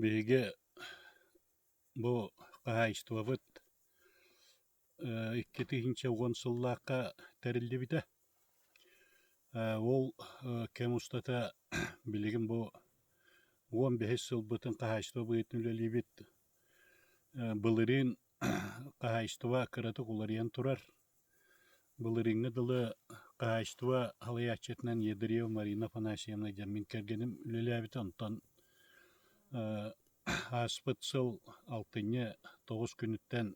Биһиги бу хаһаайыстыбабыт икки тыһыынча уон сыллаахха тэриллибитэ. Ол кэм устата билигин бу уон бэһис сылбытын хаһаайыстыба быһыытын үлэлиибит. Былырыын хаһаайыстыба кыратык уларыйан турар. Былырыыҥҥы дылы хаһаайыстыба салайааччытынан Ядрева Марина Афанасьевна дьоммун кэргэним үлэлээбитэ, онтон ааспыт сыл алтынньы тоҕус күнүттэн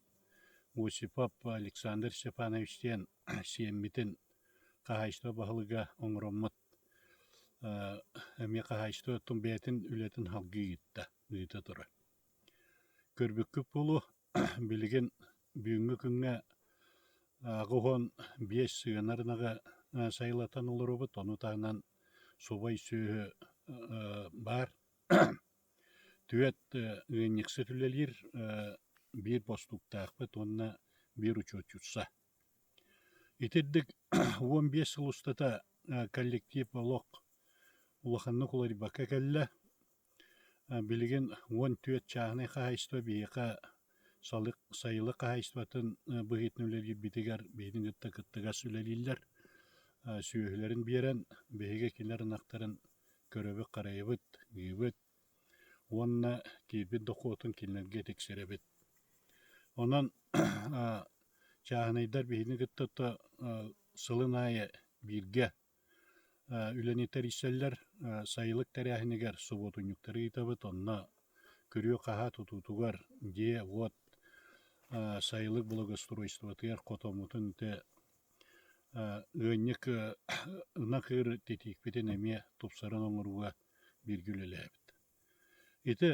Осипов Александр Степанович диэн сиэммитин хаһаайыстыба баһылыга оҥороммут эмиэ хаһаайыстыба бэйэтин үлэтин салгыы ыытта, ыыта турар. Көрбүккүт буолуо, Билигин бүгүҥҥү күҥҥэ ааҕы уһун биэс сыанар ынаҕы сайылатан олоробут, ону таһынан субай сүөһү баар. Түөрт ыанньыксыт үлэлиир, биир бостууктаахпыт уонна биир учуотчутса. Итирдик уон биэс сыл устата коллектив олох улаханнык уларыйбакка кэллэ. Билигин уон түөрт чааһынай хаһаайыстыба биһиэхэ сайылык хаһаайыстыбатын быһыытынан үлэлиирбитигэр биһигини кытта кыттыгас үлэлииллэр. Сүөһүлэрин биэрэн биһиги кинилэр ынахтарын көрөбүт-харайабыт, ыыбыт уонна киирбит дохуотун кинилэргэ тиксэрэбит. Онон чааһынайдар биһигини кытта сылын аайы бииргэ үлэни тэрийсэллэр сайылык тэрээһинигэр субуотунньуктары ыытабыт онно күрүө-хаһаа тутуутугар дьиэ-уот сайылык благоустройствотыгар хотоммутун ити ыанньык ынах ыыр титиикпитин эмиэ тупсаран оҥорууга бииргэ үлэлээбит ити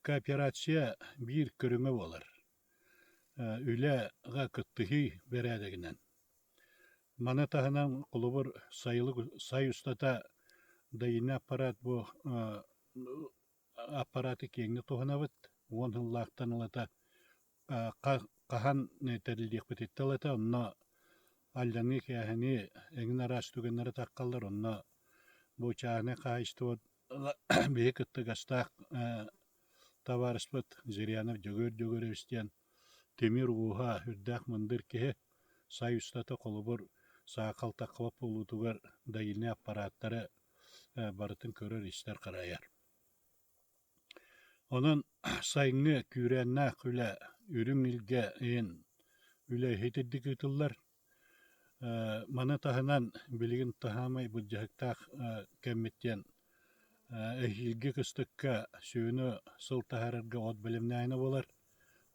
кооперация биир көрүҥэ буолар Үлэҕэ кыттыһыы бэрээдэгинэн. Маны таһынан холобур сайылык сай устата дэйинэ аппарат бу аппараты киэҥник туһанабыт уон сыллаахтан ылата хаһан тэриллиэхпититтэн ылата онно алльаныы-кээһэнии эҥин араас түгэннэри тархаллар онно бу чааннай хаһаайыстыба биһи кытта гастаах табаарыспыт Зырянов Дьөгүөр Дьөгүрөбүс диэн тимир ууһа үрдээх мындыр киһи сай устата холобур саахал таккалап буолуутугар дайыны аппарааттары барытын көрөр истэр харайар онон сайыҥҥы күүрээннээх үлэ үрүҥ илгэ иһин үлэ иһитирдик ыытыллар Маны таһынан билигин таһаамай былдьаһыктаах кэммит диэн эһиилги кыстыкка сүнү сыл таһаарарга от бэлэмнээһинэ буолар.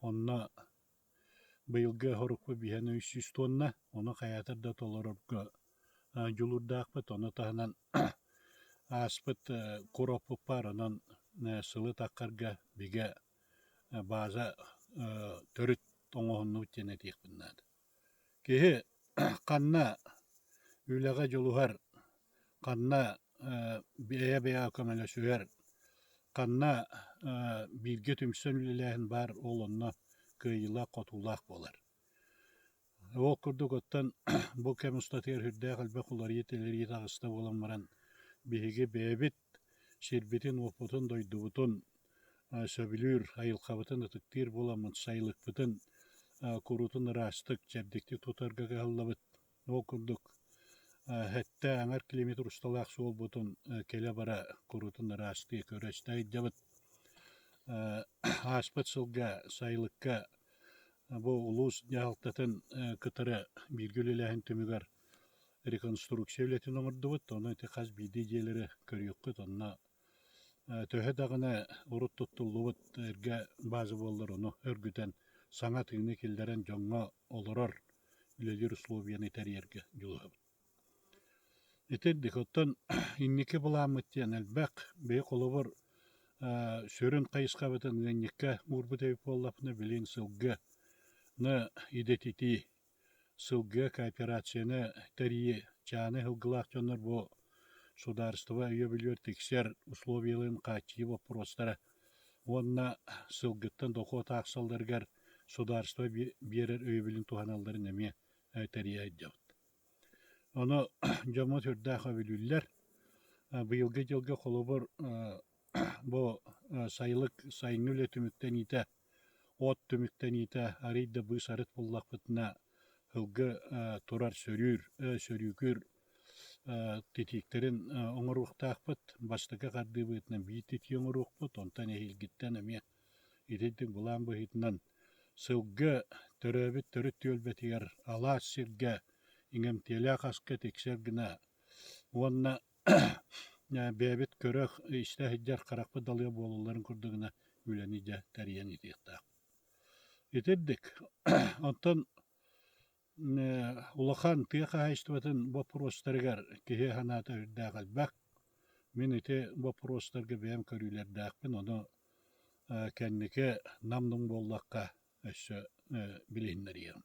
Онно быйылгы хорукпут биһиэхэ үс сүүс туонна, ону хайаатар да толорорго дьулуурдаахпыт. Ону таһынан ааспыт куроппут баар, онон сылы таххарга бигэ база төрүт оҥоһуннубут диэн этиэхпин наада. Киһи ханна үлэҕэ дьулуһар, ханна бэйэ-бэйэҕэ көмөлөсүһэр, ханна бииргэ түмсэн үлэлээһин баар ол онно кыайыылаах-хотуулаах буолар. Ол курдук оттон бу кэм устатыгар үрдээх элбэх уларыйыы-тэлэрийии таҕыста буолан баран биһиги бэйэбит сирбитин-уоппутун, дойдубутун сөбүлүүр, айылхабытын ытыктыыр буоламмыт, сайылыкпытын куруутун ыраастык, чэбдиктик тутарга кыһаллабыт. Ол курдук, сэттэ аҥар климат усталаах суолбутун кэлэ-бара куруутун ыраастыы көрө-истэ сылдьабыт. Ааспыт сылга сайылыкка бу улуус дьаһалтатын кытары бииргэ үлэлээһин түмүгэр реконструкция үлэтин оҥордубут, ону ити хас биирдии дьиэлэри көрүөххүт уонна төһө даҕаны урут туттуллубут эргэ бааза буоллар ону өргүтэн саҥа тыыны киллэрэн дьоҥҥо олорор үлэлиир условиены тэрийэргэ дьулуһабыт. Итирдик, оттон инники былааммыт диэн элбэх, бэйэ холобур сүрүн хайысхабытын ыанньыкка уурбут эбит буоллафына, билигин сылгы идэтитии Сылгы кооперацияны тэрийэ чааны ыһылгылаах дьоннор бу судаарыстыба өйөбүлүгэр тиксэр условиеларын хааччыйыы боппуруостара уонна сылгыттан дохуот аахсалларыгар судаарыстыба биэрэр өйөбүлүн туһаналларын эмиэ тэрийэ айдьабыт. Ону дьомо сүрдээх өбүлүүллэр. Быйылгы дьылга холобур бу сайылык сайыҥҥы үлэ түмүктэниитэ От түмүктэниитэ арыый да быыс-арыт буллахпытына сылгы турар сөрүүр сөрүүкүүр титииктэрин оҥоруохтаахпыт. Бастакы хардыыбытынан биир титии оҥоруохпут, онтон эһиилгиттэн эмиэ итинтик былаан быһыытынан сылгы төрөөбүт төрүт түөлбэтигэр алаас сиргэ иҥэмтиэлээх аска тиксэр гына уонна бэйэбит көрөх, истэ сылдьар харахпыт далыга буолалларын курдук гына үлэни дьэ тэрийэн итиэхтээх. Итирдик, оттон улахан тыа хаһаайыстыбатын боппуруостарыгар киһи санаата үрдээх элбэх. Мин ити боппуруостарга бэйэм көрүүлэрдээхпин, ону кэнники нам-нум буоллахха өссө билиһиннэриэҕим.